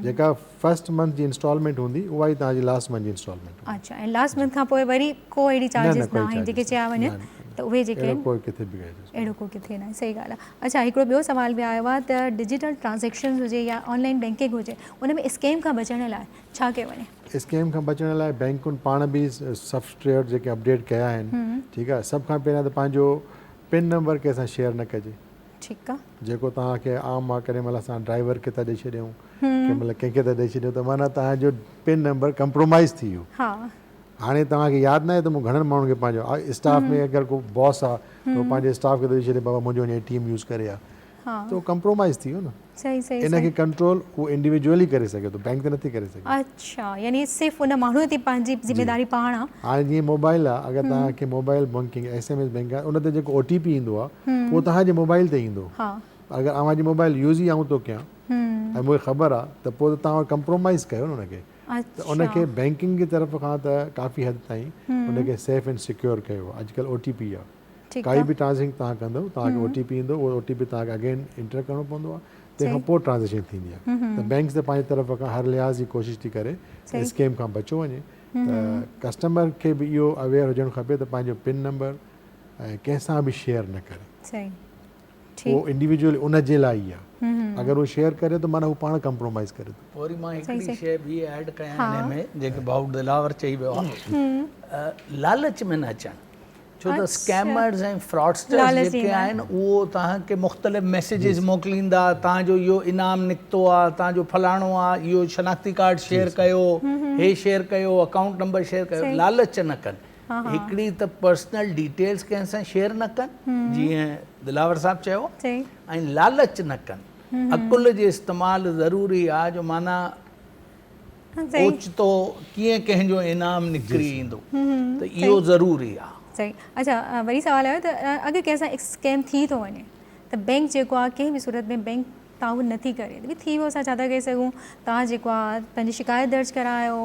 جيڪا فرسٽ منٿ جي انسٽالمينٽ هوندي اها ئي توهان جي لاسٽ منٿ جي انسٽالمينٽ هوندي اڇا ۽ لاسٽ منٿ کان پوء وري ڪو اهڙي چارجز نه آهن جيڪي چيا وڃن ته اهي جيڪي اهڙو ڪو ڪٿي به اهڙو ڪو ڪٿي نه صحيح ڳالهه آهي اڇا هڪڙو ٻيو سوال به آيو آهي ته ڊجيٽل ٽرانزيڪشنز هجي يا آنلائن بينڪنگ هجي ان ۾ اسڪيم کان بچڻ لاء ڇا ڪيو وڃي اسڪيم کان بچڻ لاء بينڪن پاڻ به سافٽويئر جيڪي اپڊيٽ ڪيا آهن ٺيڪ آهي سڀ کان پهريان ته پنهنجو پن نمبر ڪنهن سان شيئر نه ڪجي ٺيڪ آ. جيڪو توهان کي عام آ ڪڏهن مهل اسان ڊرائيور کي ٿا ڏئي ڇڏيون ڪنهن مهل ڪنهن کي ٿا ڏئي ڇڏيون ته معنيٰ توهان جو پن نمبر ڪمپرومائز ٿي ويو هاڻي توهان کي ياد ناهي ته مون گهڻن ماڻهن کي پنهنجو اسٽاف ۾ اگر ڪو باس آ ته هو پنهنجي اسٽاف کي ٿو ڏئي ڇڏي بابا منهنجو وڃي اي ٽي ايم يوز ڪري آ ته هو ڪمپرومائز ٿي ويو نه. صحيح صحيح ان کي صحيح ڪنٽرول هو انڊيويڊوئل ئي ڪري سگهي ٿو بئنڪ ته نٿي ڪري سگهي. اڇا يعني صرف ان ماڻهوء تي پنهنجي جي ذميداري پاڻ آ. هاڻي جيئن موبائل آ اگر توهان کي mobile banking S M S bank آ ان تي جيڪو او ٽي پي ايندو آ اهو توهان جي موبائل تي ايندو ها. اگر اوهان جي موبائل يوز ئي آئون ٿو ڪيان ۽ مون کي خبر آ ته پوء ته توهان ڪمپرومائيز ڪيو نه ان کي ته ان اڇا. کي بئنڪنگ جي طرف کان ته ڪافي حد تائين ان کي سيف اينڊ سيڪيور ڪيو آ اڄ ڪلهه او ٽي پي آ. ڪائي به ٽرانزيڪشن توهان ڪندو توهان کي او ٽي پي ايندو اهو او ٽي پي توهان کي اگين انٽر ڪرڻو پوندو آهي تنهن کان پوء ٽرانزيڪشن ٿيندي آهي ته بينڪس ته پنهنجي طرف کان هر لحاظ جي ڪوشش ٿي ڪري ته اسڪيم کان بچيو وڃي ته ڪسٽمر کي به اهو اويئر هجڻ کپي ته پنهنجو پن نمبر ڪنهن سان به شيئر نه ڪري. اهو انڊيويڊوئل ان جي لاء ئي آهي اگر اهو شيئر ڪري ٿو معنيٰ هو پاڻ ڪمپرومائز ڪري ٿو. وري مان هڪڙي شيء ٻي ايڊ ڪيان هن ۾ جيڪي ڀائو دلاور چئي ويو آهي لالچ ۾ نه اچڻ ڇو ته اسڪيمرز ۽ فراڊسٽرز جيڪي آهن اهو توهان کي مختلف ميسيجز موڪليندا توهان جو اهو انعام نڪتو آهي توهان جو فلاڻو آهي اهو شناختي ڪارڊ شيئر ڪيو هي شيئر ڪيو اڪائونٽ نمبر شيئر ڪيو لالچ نه ڪن هڪڙي ته پرسنل ڊيٽيلز ڪنهن سان شيئر نه ڪن جيئن دلاور صاحب چيو ۽ لالچ نه ڪن عقل جي استعمال ضروري آ جو معنيٰ اوچتو ڪيئن ڪنهن جو انعام نڪري ايندو ته اهو ضروري آ. اڇا وري سوال آيو ته اگر ڪنهن سان اسڪيم ٿي ٿو وڃي ته بينڪ جيڪو آ ڪنهن به صورت ۾ بينڪ توهان اهو نٿي ڪري ڀي ٿي ويو اسان ڇا ٿا ڪري سگهون توهان جيڪو آ پنهنجي شڪايت درج ڪرايو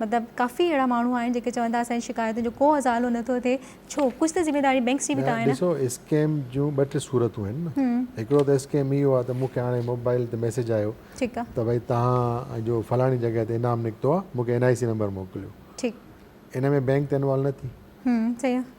مطلب ڪافي اهڙا ماڻهو آهن جيڪي چون ٿا اسان جي شڪايتن جو ڪو ازالو نٿو ٿئي ڇو ڪجهه ته ذميواري بينڪس جي به ته آهي نه ڏسو اسڪيم جون ٻه ٽي صورتون آهن نه هڪڙو ته اسڪيم اهو آ ته مون کي هاڻي موبائل تي ميسيج آيو ته ڀئي توهان جو فلاڻي جڳهه تي انعام نڪتو آ مون کي اين آء سي نمبر موڪليو ان ۾ بينڪ ته انوالو نه ٿي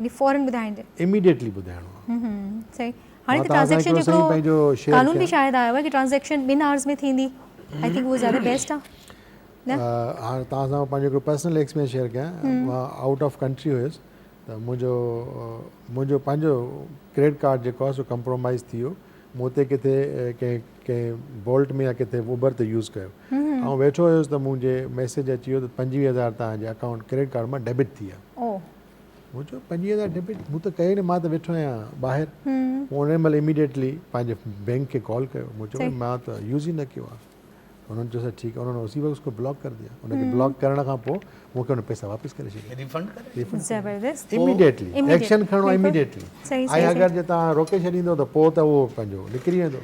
يعني فورن ٻڌائڻ جي اميڊيٽلي ٻڌائڻو آ صحيح هاڻي ته ٽرانزيڪشن جو هڪڙو قانون به شايد آيو آ ڪي ٽرانزيڪشن ٻن آورز ۾ ٿيندي آئي ٿنڪ اهو زياده بيسٽ آ نه هاڻي توهان سان پنهنجو هڪڙو پرسنل ايڪسپيرينس شيئر ڪيان مان آئوٽ آف ڪنٽري هيس ته منهنجو منهنجو پنهنجو ڪريڊٽ ڪارڊ جيڪو آ سو ڪمپرومائز ٿي ويو مون اتي ڪٿي ڪنهن ڪنهن بولٽ ۾ يا ڪٿي اوبر تي يوز ڪيو آئون ويٺو هيس ته منهنجي ميسيج اچي ويو ته پنجويهه هزار توهان جي اڪائونٽ ڪريڊٽ ڪارڊ مان ڊيبٽ ٿي ويا مون چيو پنجويهه هزار ڊيبٽ مون ته ڪيو نه مان ته ويٺو آهيان ٻاهر هن مهل اميڊيٽلي پنهنجي بينڪ کي ڪال ڪيو مون چيو مان ته يوز ئي نه ڪيو آهي انهن چيو ٺيڪ آهي انهن اسی وقت اس کو بلاڪ ڪر ديا ان کي بلاڪ ڪرڻ کان پوء مون کي ان پئسا واپس ڪري ڇڏيا ريفنڊ ڪري زبردست اميڊيٽلي ايڪشن کڻڻو آهي اميڊيٽلي ۽ اگر جي تان روڪي ڇڏيندو ته پوء ته اهو پنهنجو نڪري ويندو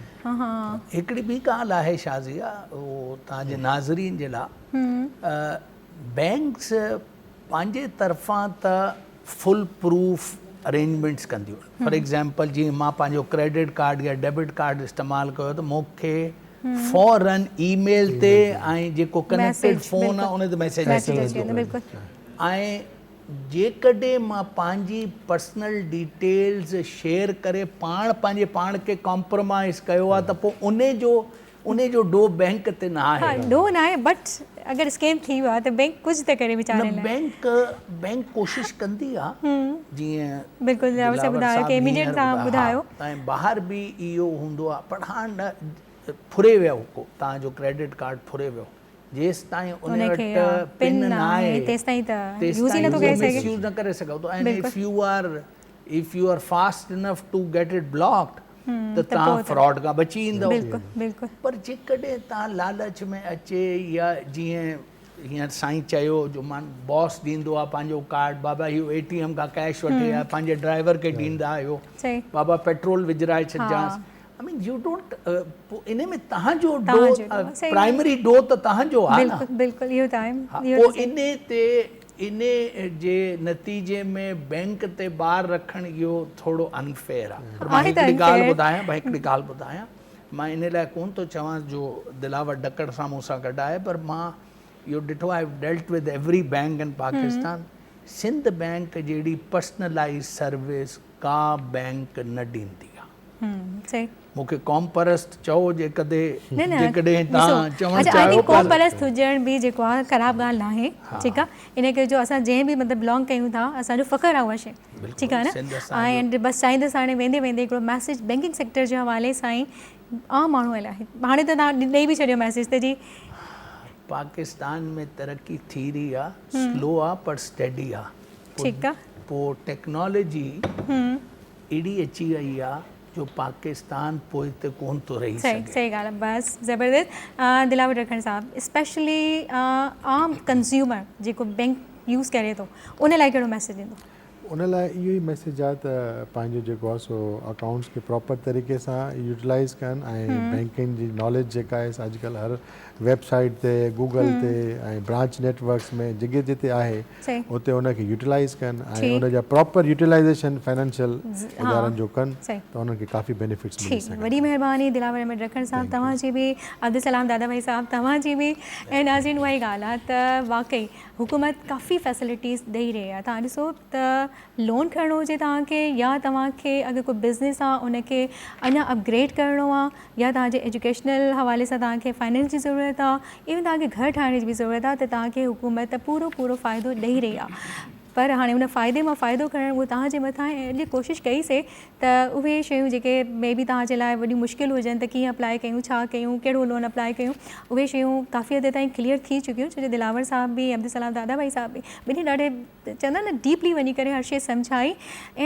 هڪڙي ٻي ڳالهه آهي شاهه ضيا تان جي ناظرين جي لاء بينڪس پنهنجي طرفان ته فل پروف ارينجمينٽس ڪنديون فار ايگزامپل جي مان پنهنجو ڪريڊٽ ڪارڊ يا ڊيبٽ ڪارڊ استعمال ڪيو ته مون کي فورن اي ميل تي ۽ جيڪو ڪنيڪٽيڊ فون آهي ان تي ميسيج اچي ويندو ۽ جيڪڏهن مان پنهنجي پرسنل ڊيٽيلز شيئر ڪري پاڻ پنهنجي پاڻ کي ڪامپرومائز ڪيو آهي ته پوء ان جو انهي جو ڏوهه بئنڪ تي نه آهي. ها ڏوهه ناهي بٽ اگر اسڪيم ٿي ويو آهي ته بئنڪ ڪجهه ته ڪري ويچاري لاء. نه بئنڪ بئنڪ ڪوشش ڪندي آ جيئن بلڪل دلاور صاحب ٻڌايو ڪي اميڊيٽ تهان ٻڌايو. ۽ ٻاهر به اهو هوندو آ پر هاڻ نه ڦري ويو ڪو تهان جو ڪريڊٽ ڪارڊ ڦري ويو جيستائين انهي وٽ پن نه آهي تيستائين ته يوز ئي نٿو ڪري سگهي. مس يوز نه ڪري سگهو ٿو ۽ if you are if you are fast enough to get it block ته توهان فراڊ کان بچي ايندؤ پر جيڪڏهن توهان لالچ ۾ اچي يا جيئن هينئر سائين چيو جو مان باس ڏيندو آهي پنهنجو ڪارڊ بابا اهو اي ٽي ايم کان ڪيش وٺي آيا پنهنجي ڊرائيور کي ڏيندا آهيو بابا پيٽرول وجهرائي ڇڏجانس آئي مين يو ڊونٽ ان ۾ توهان جو ڊو پرائمري ڊو ته توهان جو آهي نه بلڪل بلڪل اهو ته آهي پوء ان تي انهي جي نتيجي ۾ بئنڪ تي بار رکڻ اهو ٿورو انفيئر آهي. پر مان هڪڙي ڳالهه ٻڌايان مان هڪڙي ڳالهه ٻڌايان مان انهي لاء ڪونه ٿو چوان جو دلاور ڊڪڙ سان مون سان گڏ آهي پر مان اهو ڏٺو آهي I dealt with every bank in Pakistan Sindh bank جهڙي پرسنلائيز سروس ڪا بئنڪ نه ڏيندي آهي. مون کي قوم پرست چئو جي ڪدي نه نه جيڪڏهن ڏسو تان چوڻ اچا آء چاهيو ٿنڪ قوم پر پرست هجڻ به جيڪو آ خراب ڳالهه ناهي ها ٺيڪ آ ان ڪري جو اسان جنهن به مطلب بلانگ ڪيون ٿا اسان جو فخر آ اها شي ٺيڪ آ بلڪل نه سنڌ اسان جو ۽ بس چاهيندس هاڻي ويندي ويندي هڪڙو ميسيج بينڪنگ سيڪٽر جي حوالي سان ئي عام ماڻهوء لاء هاڻي ته تان ڏئي به ڇڏيو ميسيج ته جي پاڪستان ۾ ترقي ٿي رهي آ سلو آ پر اسٽيڊي آ ٺيڪ آ پوء ٽيڪنالاجي اهڙي اچي وئي آ جو پاڪستان پوئتي ڪون ٿو رهي سگهي. صحيح ڳالهه آهي بس زبردست دلاور رکڻ صاحب اسپيشلي عام ڪنزيومر جيڪو بينڪ يوز ڪري ٿو ان لاء ڪهڙو ميسيج ڏيندو. ان لاء اهو ئي ميسيج آهي ته پنهنجو جيڪو آهي سو اڪائونٽس کي پراپر طريقي سان يوٽيلائز ڪن ۽ بينڪنگ جي ناليج جيڪا آهي سا اڄ ڪلهه هر ويب سائيٽ تي گوگل تي ۽ برانچ نيٽ ورڪس ۾ جگهه جتي آهي اتي ان کي يوٽيلائيز ڪن ۽ ان جا پراپر يوٽيلائيزيشن فنانشل ادارن جو ڪن ته انهن کي ڪافي بينيفٽس ملي سگهن ٿا. وڏي مهرباني دلاور احمد رکڻ صاحب توهان جي به عبدالسلام دادا ڀائي صاحب توهان جي به ۽ ناظرين اها ئي ڳالهه آهي ته واقعي حڪومت ڪافي فيسلٽيز ڏئي رهي آهي توهان ڏسو ته لون کڻڻو هجي توهان کي يا توهان کي اگر ڪو بزنس آ ان کي اڃا اپگريڊ ڪرڻو آ يا توهان جي ايجوڪيشنل حوالي سان توهان کي فائنينس جي ضرورت آ ايون توهان کي گهر ٺاهڻ جي به ضرورت آ ته توهان کي حڪومت پورو پورو فائدو ڏئي رهي آ پر هاڻي ان فائدي مان فائدو کڻڻ اهو توهان جي مٿان آهي ۽ اڄ ڪوشش ڪئي سي ته اهي شيون جيڪي مي بي توهان جي لاء وڏيون مشڪل هجن ته ڪيئن اپلائي ڪيون ڇا ڪيون ڪهڙو لون اپلائي ڪيون اهي شيون ڪافي حد تائين ڪليئر ٿي چڪيون ڇو جو دلاور صاحب به عبدالسلام دادا ڀائي صاحب به ٻنهي ڏاڍي چوندا آهن نه ڊيپلي وڃي ڪري هر شي سمجهائي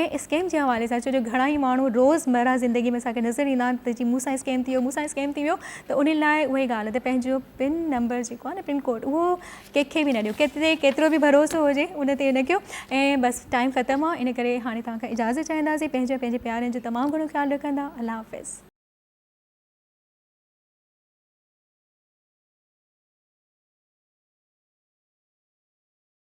۽ اسڪيم جي حوالي سان ڇو جو گهڻا ئي ماڻهو روزمره زندگي ۾ اسان کي نظر ايندا آهن ته جي مون سان اسڪيم ٿي ويو مون سان اسڪيم ٿي ويو ته ان لاء اها ئي ڳالهه ته پنهنجو پن نمبر جيڪو آهي نه پن ڪوڊ اهو ڪنهن کي به نه ڏيو ڪيتري ڪيترو به ڀروسو هجي ان تي نه ڪيو ۽ بس ٽائيم ختم آهي ان ڪري هاڻي توهان کان اجازت چاهينداسين پنهنجي ۽ پنهنجي پيارن جو تمام گهڻو خيال رکندا الله حافظ.